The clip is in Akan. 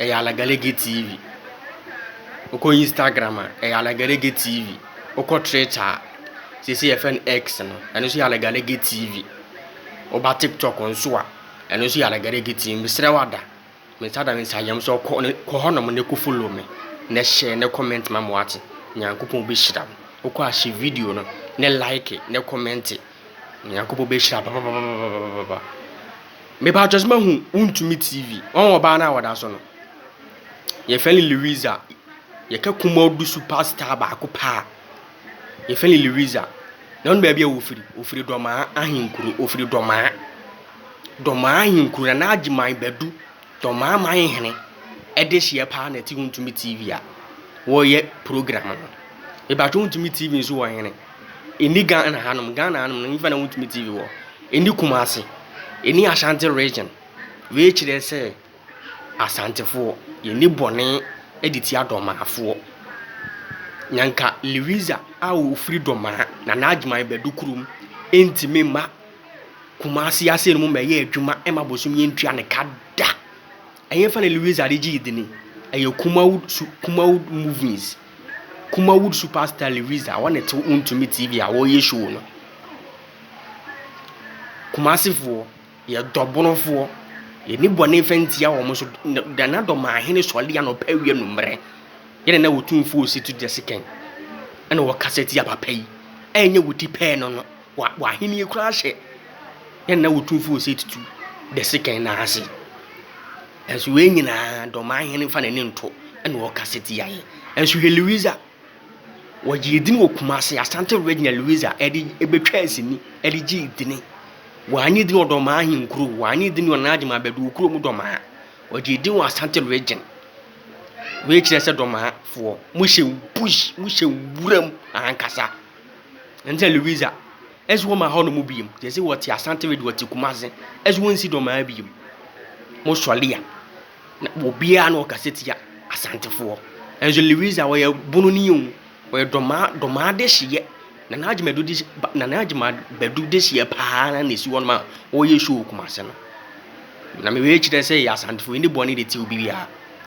ɛyɛ Alagalege TV. Wokɔ Instagram a, ɛyɛ Alagalege TV. Wokɔ Twitter a, seesei yɛfrɛ no X no, ɛno nso yɛ Alagalege TV. Woba TikTok nso a, ɛno nso yɛ Alagalege TV. Mesrɛ wo ada, me nsa da me nsa yam sɛ kɔ ne kɔ hɔnom na kɔfollow me, na hyɛ na kɔmɛnte ma me wate. Nyankopɔn bɛhyira wo. Wokɔ a, hyɛ video no, na like na kɔmɛnte. Nyankopɔn bɛhyira papapapapapa. Mepatwɔ sɛ mahu wontumi TV. Wɔn ɔbaa no a wɔda so no. Yɛfɛ no Louisa. Yɛka Kumawdo superstar baako pɛ a, yɛfɛ no Louisa. Na wonim baabi a ɔfiri? Ɔfiri Dɔmaa ahenkuro. Ɔfiri Dɔmaa. Dɔmaa ahenkuro, Nana Agyeman Badu, Dɔmaa manhene dehyeɛ paa na ɛte Wontumi TV a wɔyɛ program no. Mepatwɔ Wontumi TV nso wɔ hene? Ɛnni Ghana hanom, Ghana hanom no hefa na wontumi TV wɔ? Ɛnni Kumasi, ɛnni Ashanti region. Wei kyerɛ sɛ Asantefoɔ, yɛn ani bɔne de tia Dɔmaafoɔ. Na nka Liwiza a ɔfiri Dɔmaa na n'adwuma yɛ Badu kurom ntumi mma Kumasi aseɛ no mu mmɛyɛ adwuma mma bosom yɛntua ne ka da. Ɛhefa na Liwiza de gyee dini? Ɛyɛ Kumawood, Kumawood movies. Kumawood super star Lewis a ɔne Tew Wontumi TV a wɔreyɛ show no. Kumasefoɔ, yɛ dɔ Bonofoɔ. Yɛni bɔne fa ntia wɔn so. Nana dɔ maa hene sɔle anɔpa awia nummerɛ. Yɛne na wɔtu mfo ɔsi to dɛ sekɛn. Ɛna wɔkasa tia papa yi. Ɛnyɛ wɔti pɛɛ no no. Wɔahenie koraa hyɛ. Yɛne na wɔtu mfo ɔsi tutu dɛ sekɛn na ase. Nanso wei nyinaa de ɔman hene mfa n'ani nto na ɔka sɛ tia yɛ. Nanso hwɛ Louisa. Wɔgyee din wɔ Kumase, Asante Regina Louisa, ɛde ɛbɛtwaa sini, ɛde gyee dini. Wɔanye din wɔ Dɔmaa ahenkuro, wɔanye din wɔ Nana Gyima Badu kuro mu Dɔmaa. Wɔgyee din wɔ Asante Region. Wei kyerɛ sɛ Dɔmaafoɔ, mohyɛ bush, mohyɛ wuram ankasa. Ɛne sɛ Louisa. Ɛse wɔn ma hɔnom biom. Yɛse wɔte Asante Wede wɔte Kumase. Ɛse wɔn nsi dɔmaa biom. Mo sɔle a na obiara na ɔkasa tia Asantefoɔ. Ɛnso Lewisa ɔyɛ bono ni o. Ɔyɛ dɔmaa dɔmaa dehyeɛ. Nana Agyemadu de Nana Agyemadu dehyeɛ paa na esi hɔnom a ɔyɛ show wɔ Kumase no. Na mewei kyerɛ sɛ yɛ Asantefoɔ yɛni bɔne de tia obibiara.